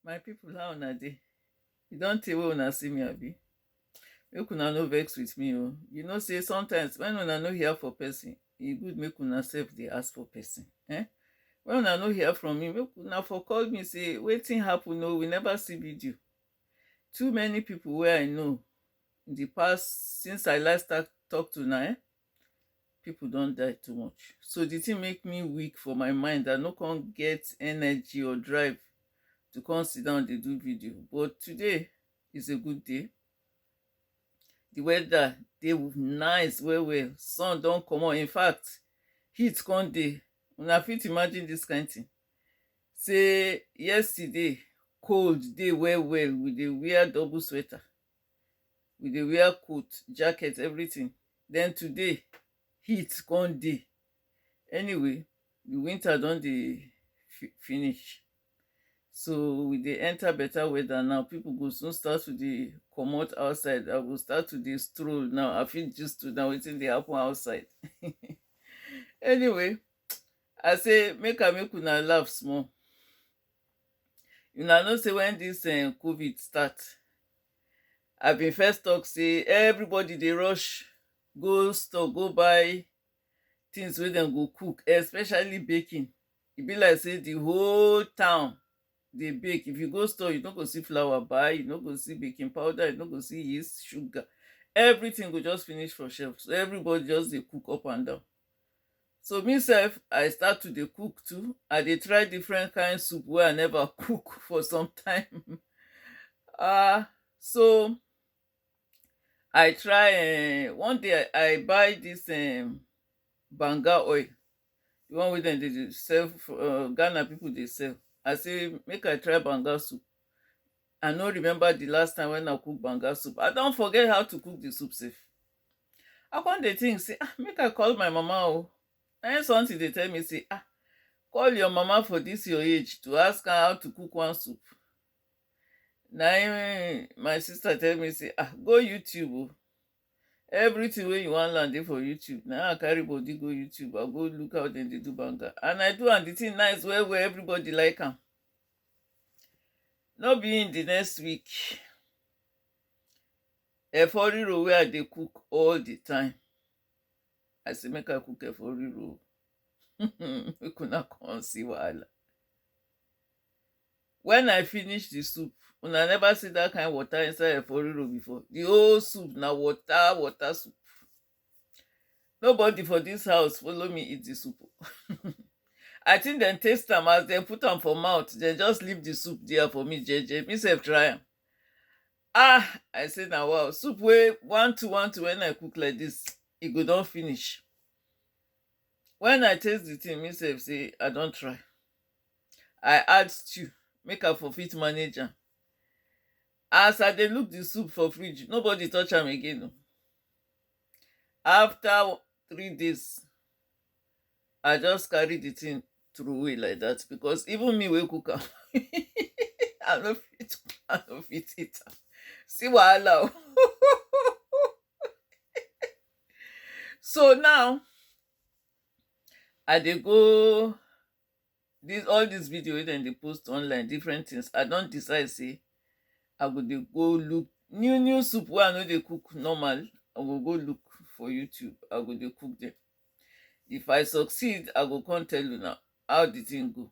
My people how una dey? E don tey wey una see me abi? Make una no vex with me oo, you know sey sometimes when una no hear for person, e good make una sef dey ask for person um When una no hear from me, make una for call me sey wetin happen oo, we never see video Too many people wey I know in the past since I last start talk to una um people don die too much. So the thing make me weak for my mind. I no come get energy or drive to come sit down dey do video. But today is a good day. The weather dey nice well well. Sun don comot. In fact, heat come dey. Una fit imagine this kind thing. Say yesterday cold dey well well. We dey wear double sweater. we dey wear coat, jacket, everything then today heat come dey anyway the winter don dey finish so we dey enter better weather now people go soon start to dey comot outside I go start to dey stroll now I fit gist una wetin dey happen outside anyway I say make I make una laugh small Una know sey when dis um covid start I been first talk sey everybody dey rush go store go buy things wey dem go cook especially baking E be like sey the whole town dey bake. If you go store, you no go see flour buy, you no go see baking powder, you no go see yeast, sugar. Everything go just finish for shelf. So, everybody just dey cook up and down. So me sef, I start to dey cook too. I dey try different kind soup wey I never cook for some time. um so I try um one day I buy dis um banga oil. The one wey dem dey dey sell for um Ghana people dey sell. I say make I try banga soup. I no remember the last time when I cook banga soup. I don forget how to cook the soup sef. I come dey think say ah make I call my mama oh na im something dey tell me say ah call your mama for this your age to ask her how to cook one soup na im my sister tell me say ah go YouTube oh everything wey you wan learn dey for YouTube na im I carry body go YouTube I go look how dem dey do banga and I do am the thing nice well well everybody like am no be im the next week Efo riro wey I dey cook all the time. I say make I cook efo riro. make una come see wahala. When I finish the soup, una never see that kind water inside efo riro before? The whole soup na water water soup. Nobody for this house follow me eat the soup o. I think dem taste am as dem put am for mouth, dem just leave the soup there for me jeje. Me self try am. Ah, I say na wow. Soup wey one two one two when I cook like this, e go don finish. When I taste the thing, me sef say I don try. I add stew make I for fit manage am. As I dey look the soup for fridge, nobody touch am again o. After three days, I just carry the thing throwaway like that because even me wey cook am, I no fit, I no fit eat am. See wahala o. So now, I dey go dis all dis video wey dem dey post online different things i don decide say i go dey go look new new soup wey i no dey cook normal i go go look for youtube i go dey cook dem if i succeed i go come tell una how the thing go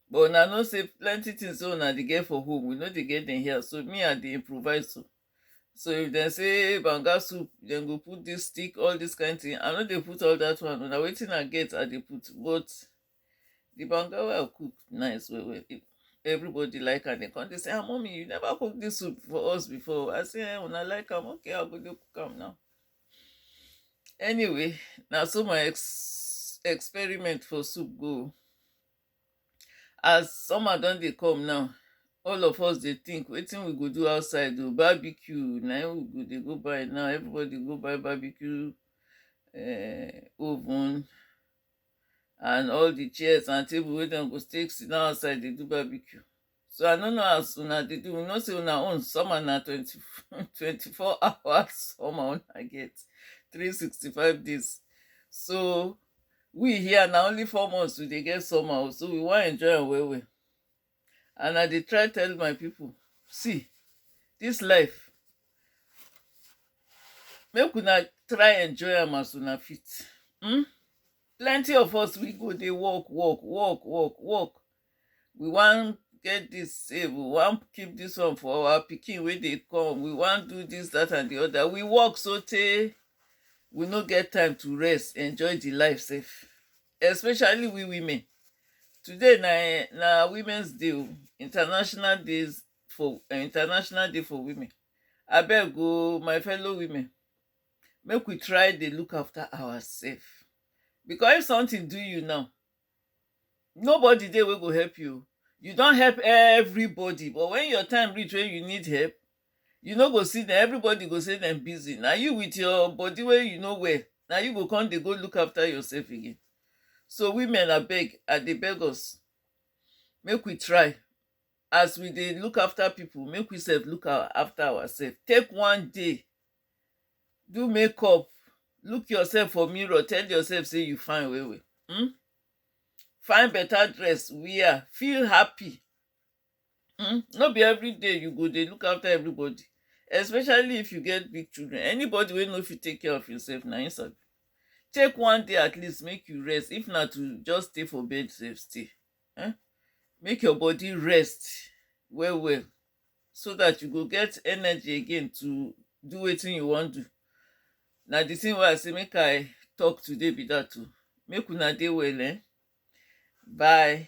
but una know say plenty things wey una dey get for home we no dey get dem here so me i dey improvise so so if dem say banga soup dem go put this stick all this kind thing i no dey put all that one na wetin i get i dey put but The banga wey I cook nice well well. Everybody like am. They come dey say, ah, mommy, you never cook this soup for us before. I say, eh, when I like am, okay, I go dey cook am now. Anyway, now so my ex- experiment for soup go. As summer don dey come now, all of us dey think wetin we go do outside o barbecue na im we go dey go buy now everybody go buy barbecue uh, oven and all the chairs and table wey dem go take sit down outside dey do barbecue so i no know as una dey do we know say una own summer na twenty twenty four hours summer una get three sixty five days so we here na only four months we dey get summer o so we wan enjoy am well well and i dey try tell my people see this life make una try enjoy am as una fit hmm? plenty of us we go dey work work work work work we wan get this save we wan keep this one for our pikin wey dey come we wan do this that and the other we work so tey we no get time to rest enjoy the life sef especially we women today na eh, na women's day o international days for uh, international day for women abeg o my fellow women make we try dey look after ourselves because if something do you now nobody dey wey go help you you don help everybody but when your time reach when you need help You no go see dem, everybody go say dem busy. Na you with your body wey you no well, na you go come dey go look after yourself again. So women abeg, I dey beg us, make we try, as we dey look after people, make we sef look our after ourself. Take one day, do makeup, look yourself for mirror, tell yourself sey you fine well well. Hm? Find better dress wear, feel happy. um no be everyday you go dey look after everybody especially if you get big children anybody wey no fit take care of himself na him sabi take one day at least make you rest if na to just stay for bed sef stay um make your body rest well well so that you go get energy again to do wetin you wan do na the thing wey I say make I talk today be that o make una dey well um bye.